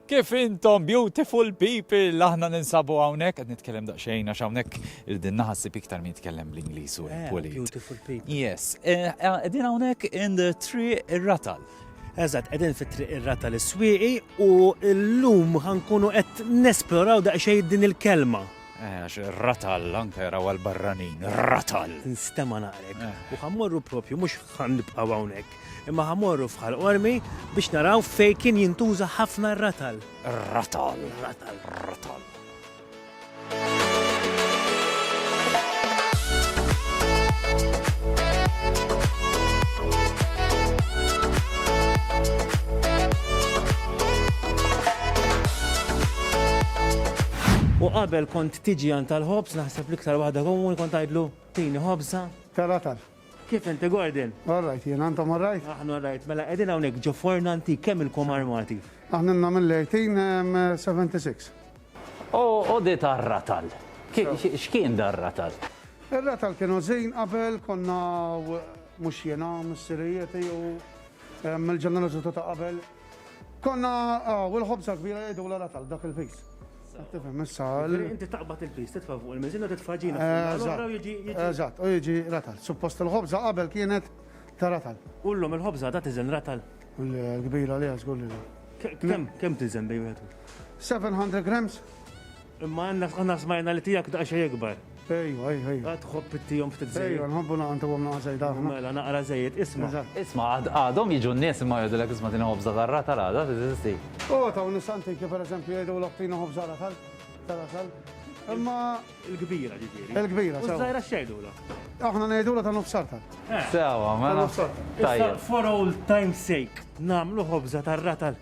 Kif intom beautiful people, aħna ninsabu hawnhekk qed nitkellem daqsxejn għax hawnhekk din naħa ssib iktar min jitkellem bl-Ingliż u eh, Polit. Beautiful people. Yes. Eh, eh, qegħdin hawnhekk in the tree ir-ratal. Eżatt, qegħdin fit-triq ir-rata l swieqi u llum ħankunu qed nesploraw daqsxejn din il-kelma. Eh, għax ratal, anke jaraw għal-barranin, ratal. Nstema naqrek. Eh. U ħammorru propju, mux ħannibqaw għawnek. Imma ħa morru f'Ħal Qormi biex naraw fejn kien jintuża ħafna r-ratal. Ratal. Ratal. Ratal. U qabel kont tiġi għan tal-ħobz, naħseb l-iktar waħda komuni kont għajdlu tini ħobza. Taratal. Kif inti Gordon? All right, jien għandhom all right? Aħna all right, mela qegħdin hawnhekk ġo forna antik kemm ilkom armati? Aħna nna mill-1876. O, o di tar-ratal. X'kien dar-ratal? Ir-ratal kienu żin qabel konna mhux jiena missirijieti u mill-ġenerazzjoni ta' qabel. Konna ah, u l-ħobza kbira jgħidu l tal dak il-pis. Tifhem issa. Inti taqbad il-pis, titfa' fuq il-miżin u titfa' ġina. Eżatt, u jiġi ratal. Suppost il-ħobza qabel kienet ta' ratal. U l-lum il-ħobza ta' tiżen ratal. L-kbira li għax għulli. Kem, kem tiżen bej wieħed? 700 grams. Imma Anna aħna smajna li tiegħek daqsxejn ikbar. Ejwa, ejwa, ejwa. Għad tħobb ittihom ftit żejjed. Ejwa, nħobbu naqgħu ntuhom naqgħa żejda aħna. Mela, naqra żejjed, isma'. Eżatt. Isma', għad għadhom jiġu n-nies imma jgħidulek isma' tini ħobża tar-ratal għada teżisti. O, taw nies antiki per eżempju jgħidulok tini ħobża ratal, ta' ratal. Imma. Il-kbira ġifieri. Il-kbira, sewa. U ż-żgħira x'jgħidulha? Aħna ngħidulha ta' nofs ratal. Sewa, mela. Ta' nofs ratal. Tajjeb. Issa for old time's sake nagħmlu ħobża tar-ratal.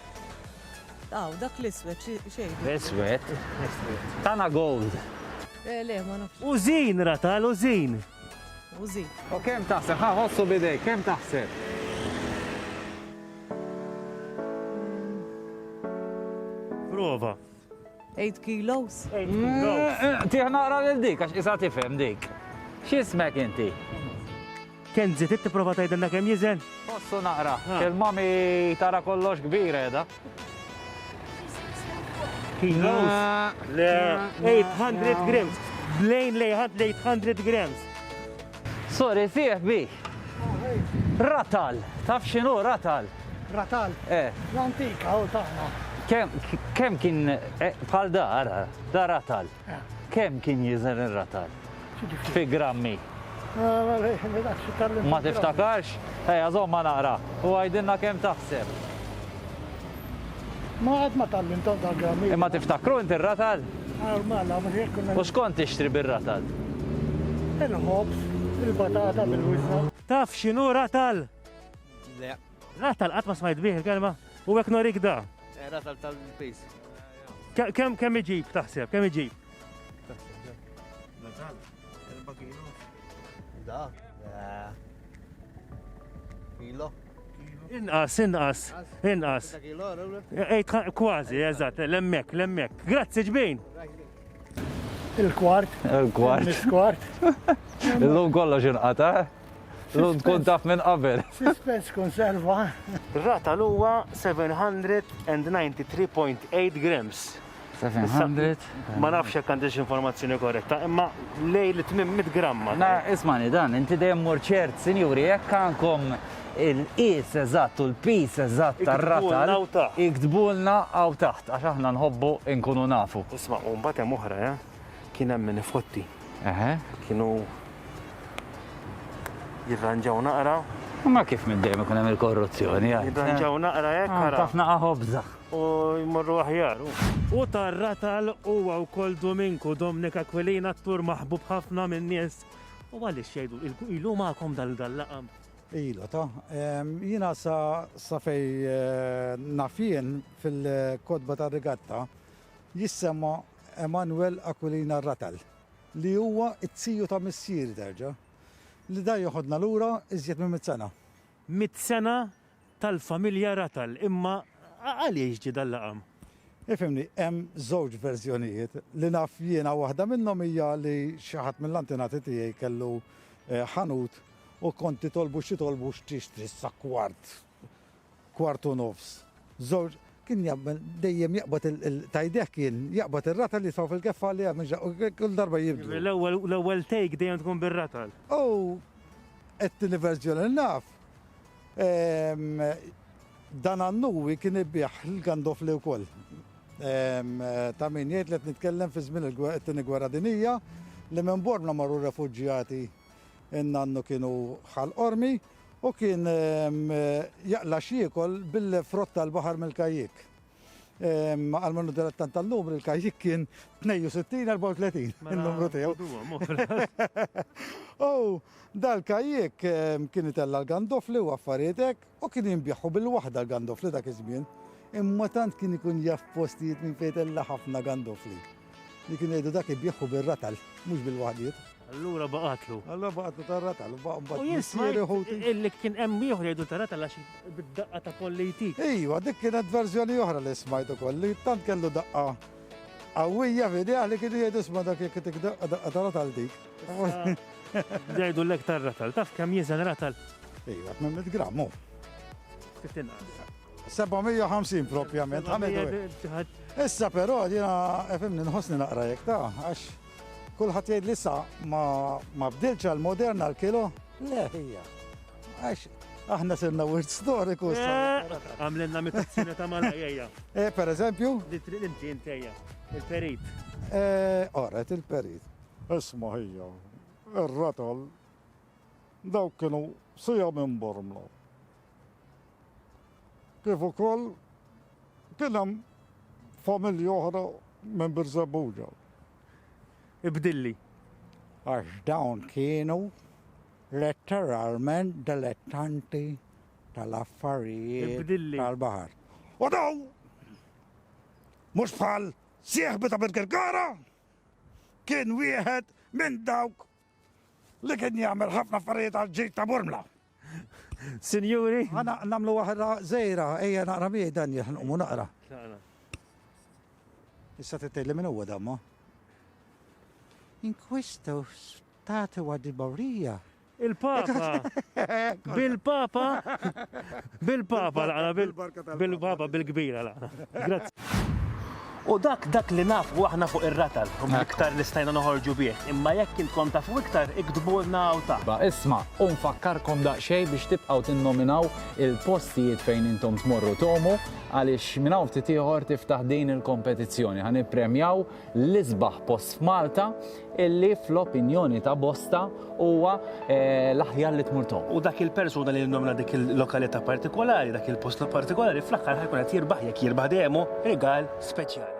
Aw, dak l-iswed xejn. Iswed? Tana gold. Eh, le, ma nafx. Użin, ratal, użin. Użin. U kem taħseb, ħa ħossu bidej, kem taħseb? Prova. Eight kilos. Tieħ naqra lil dik għax isa tifhem dik. X'ismek inti? Kenzi, trid tipprova tgħidilna kemm jiżen? Ossu naqra, il-mami tara kollox kbir qiegħda. Kilos. 800 grams. Blejn lejħad 800 grams. Sorry sieħ bi. Ratal, taf xinu ratal? Ratal? Eh. L-antika u taħna. Kem, kem kien eh, bħal da, ara, da ratal. Eh. Kem kien jizen il-ratal? Fi grammi. Ma tiftakarx? Ej, għazom ma naqra. U għajdinna kem taħseb. Ma qatt ma tallimtom tal-grammi. Imma tiftakru inti r-ratal? Għal mala, minn hekk kunna. U x'kont tixtri bir-ratal? Il-ħobż, il-batata bil-wiżna. Taf x'inhu ratal? Le. Ratal qatt ma smajt bih il-kelma? U hekk norik da. Ratal tal-piż. Kemm iġib taħseb, kemm iġib? Ratal? Erba' kilo. Da? Kilo. Inqas, inqas, inqas. Ejt kważi, eżatt, l-emmek, l-emmek. Grazzi ġbin. Il-kwart. Il-kwart. Il-kwart. Il-lum kollox inqata. L-lum tkun taf minn qabel. Suspens konserva. Rata l-uwa 793.8 grams. 700. Ma nafx jekk għandix informazzjoni korretta, imma lej li tmim 100 gramma. Na, ismani dan, inti dejjem mur ċert, sinjuri, jekk għandkom il-qis eżatt u l-pis eżatt tar-ratal. Iktbulna għaw taħt, għax aħna nħobbu nkunu nafu. Isma, u mbagħad hemm oħra, eh? Kien hemm min ifotti. Eħe. Kienu jirranġaw naqra. Ma kif minn dejjem ikun hemm il-korruzzjoni. Jirranġaw naqra hekk. Ħafna ħobża. u jmorru aħjar. U tar-ratal huwa wkoll Duminku, Domnik Aquilin attur maħbub ħafna min-nies. U għaliex jgħidu ilu magħkom dal-laqam? Ilu ta' jiena sa fej eh, nafien fil-kodba tar-rigatta jissemma Emanuel Aquilina Ratal li huwa t-tiju ta' missieri terġa' li da joħodna lura iżjed minn mit sena. Mit sena tal-familja Rattle, imma għaliex ġie dan l-għam? Ifhimni, hemm żewġ verżjonijiet. Li naf jiena waħda minnhom hija li xi ħadd mill-antenati tiegħi kellu ħanut u kont titolbu x'titolbu x'tixtri sa kwart, kwart u nofs, żewġ, kien jagħmel dejjem jaqbad ta' idejh kien jaqbad ir-rattle jisgħu fil-keffa għaliha mhux kull darba jibdlu. L-ewwel take dejjem tkun bir-rattle. U t-tieni verżjoni li naf Dan Annuwi kien ibigħ l-gandofli wkoll. Ta' min jgħid li qed nitkellem fi żmien it-Tieni Gwerra Dinjija li minn Bormla marru refuġjati n-nannu kienu Ħal Qormi u kien jaqla' x'jiekol bil-frott tal-baħar mill-kajjiek. Ehm, għal mannu direttan tal-lum il-kajik kien 62-34 mela, il-numru tiegħu. U dal-kajik ehm, kien itella l-gandofli u affarietek u kien jimbjaħu bil-waħda l-gandofli dak iż-żmien. Imma tant kien ikun jaf postijiet minn fejn ħafna gandofli. Li kien jgħidu dak ibbiegħu bir-ratal, mhux bil-waħdiet. Allura baqgħatlu. Allura baqgħatlu tar-ratal, u baqgħu mbagħad. U jismaj illi kien hemm ieħor jgħidu tar-ratal għax bid-daqqa ta' kolli jtik. Ejwa, dik kienet verżjoni oħra li smajt ukoll li tant kellu daqqa qawwija fidejh li kienu jgħidu sma' dak jekk tik daqqa daqqa tar-ratal dik. Jgħidu l-ek tar-ratal, taf kemm jiżen ratal? Ejwa, 800 gramm hu. Ftit inqas. 750 propjament, Issa però jiena efimni nħossni naqra jekk ta' għax kulħadd jgħid li sa ma bdilx għal moderna l-kilo, le hija. Għax aħna sirna wirt storiku. Eh, għamlenna mitazzina ta' malajja. Eh, per eżempju? Li trid inti intejja, il-perit. Eh, oret il-perit. Isma ħija, ir-ratol, dawk kienu sija minn bormlu. kif ukoll kien hemm familji oħra minn Birżebbuġa. Ibdilli. Għax dawn kienu letteralment dilettanti tal-affarijiet tal-baħar. U daw, mhux bħal sieħbi ta' Birkirkara, kien wieħed minn dawk Li kien jagħmel ħafna affarijiet għal ġid ta' Murmla. Sinjuri. Għana namlu waħda zejra, ejja naqra miegħi dan jħnumu naqra. Issa tittelli minn huwa damma. In questo stato di Maurija. Il-Papa. Bil-Papa. Bil-Papa laqna, bil-Papa bil-kbira laqna. Grazzi. U dak dak li nafu aħna fuq ir-ratal, u mill-iktar li stajna noħorġu bih, imma jekk intkom tafu iktar iktbulna hawn taħt. Ba isma, u nfakkarkom daqsxejn biex tibqgħu tinnominaw il-postijiet fejn intom tmorru tgħumu għaliex minn hawn ftit ieħor tiftaħ din il-kompetizzjoni. Ħa nippremjaw l-isbaħ post f'Malta illi fl-opinjoni ta' bosta huwa eh, l-aħjar li tmur toq. U dak il-persuna li nomna dik il-lokalità partikolari, dak il-post partikolari, fl-aħħar ħajkun qed jirbaħ jekk jirbaħ dejjemu rigal speċjali.